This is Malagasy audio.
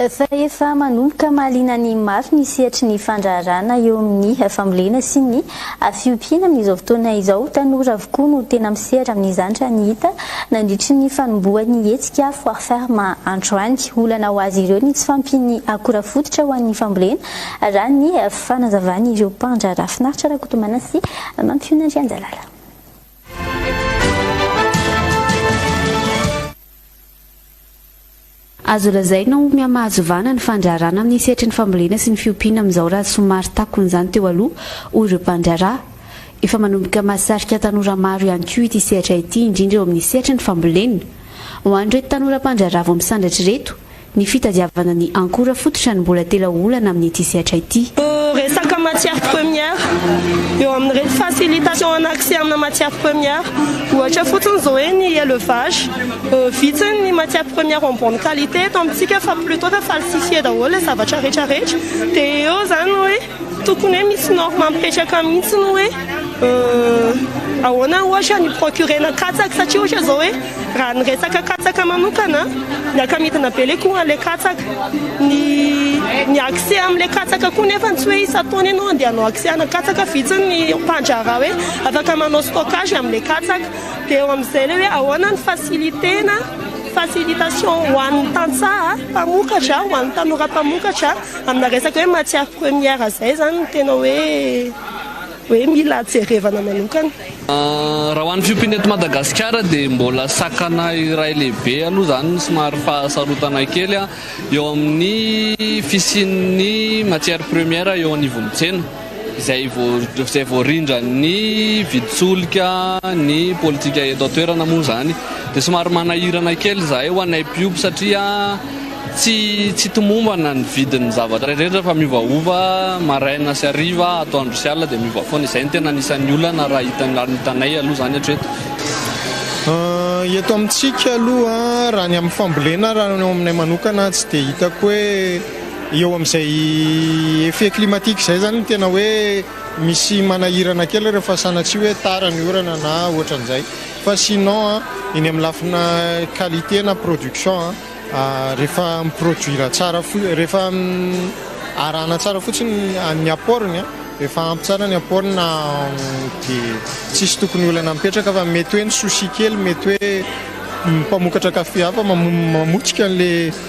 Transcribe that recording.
Fa efa manomboka mahaliana ny maro ny sehatry ny fandraharahana eo amin'ny fambolena sy ny fiompiana amin'izao fotoana izao. Tanora avokoa no tena misehatra amin'izany raha ny hita nandritry ny fanombohan'ny hetsika Foire Ferme androany. Olana ho azy ireo ny tsy fahampian'ny akora fototra ho an'ny fambolena raha ny fanazavan'ireo mpandraharaha. Finaritra Rakotomana sy Mampiona Andrianjalala. Azo lazaina ho mihamahazovana ny fandraharana amin'ny sehatry ny fambolena sy ny fiompiana amin'izao raha somary takon'izany teo aloha, hoy ireo mpandraharaha. Efa manomboka mahasarika tanora maro ihany koa ity sehatra ity, indrindra eo amin'ny sehatry ny fambolena. Ho an'ireto tanora mpandraharaha vao misandratra ireto, ny fitadiavana ny ankora fototra no mbola tela olana amin'ity sehatra ity. Resaka matières premières, eo amin'ireto facilitation en accès amina matières premières, ohatra fotsiny izao hoe ny élevage. Vitsy ny matière première en bonne qualité eto amintsika fa plutot fa falsifier daholo ilay zavatra rehetra rehetra dia eo izany hoe tokony hoe misy norme mipetraka mihitsy ny hoe ahoana ohatra ny procurena katsaka satria ohatra izao hoe raha ny resaka katsaka manokana miaka-midina be ilay coût an'ilay katsaka ny ny accès amin'ilay katsaka koa nefa ny tsy hoe isan-taona ianao andeha hanao accès ana katsaka vitsy ny mpandraharaha hoe afaka manao stockage amin'ilay katsaka Dia eo amin'izay ilay hoe ahoana ny facilité-na, facilitation, ho an'ny tantsaha mpamokatra, ho an'ny tanora mpamokatra amina resaka hoe matière première izay izany no tena hoe hoe mila jerevana manokana. Raha ho an'ny fiompiana eto Madagasikara dia mbola sakana iray lehibe aloha izany no somary fahasarotanay kely eo amin'ny fisian'ny matière première eo anivon'ny tsena. izay vao rindran'ny vidin-tsolika ny politika eto an-toerana moa izany dia somary manahirana kely izahay ho anay mpiompy satria tsy tsy tomombana ny vidin'ny zavatra rehetra fa miovaova maraina sy hariva atoandro sy alina dia miova foana izay ny tena anisan'ny olana raha hitan'ny hitanay aloha izany hatreto eto amintsika aloha raha ny amin'ny fambolena raha ny ao aminay manokana tsy dia hitako hoe Eo amin'izay effet climatique izay izany no tena hoe misy manahirana kely rehefa sanatsia hoe tara ny orana na ohatran'izay fa sinon eny amin'ny lafina qualité na production rehefa mi-produire tsara fo- rehefa arahana tsara fotsiny ny apport-ny an, rehefa ampy tsara ny apport-ny na dia tsisy tokony olana mipetraka fa mety hoe ny souci kely mety hoe ny mpamokatra café hafa mamotika an'ilay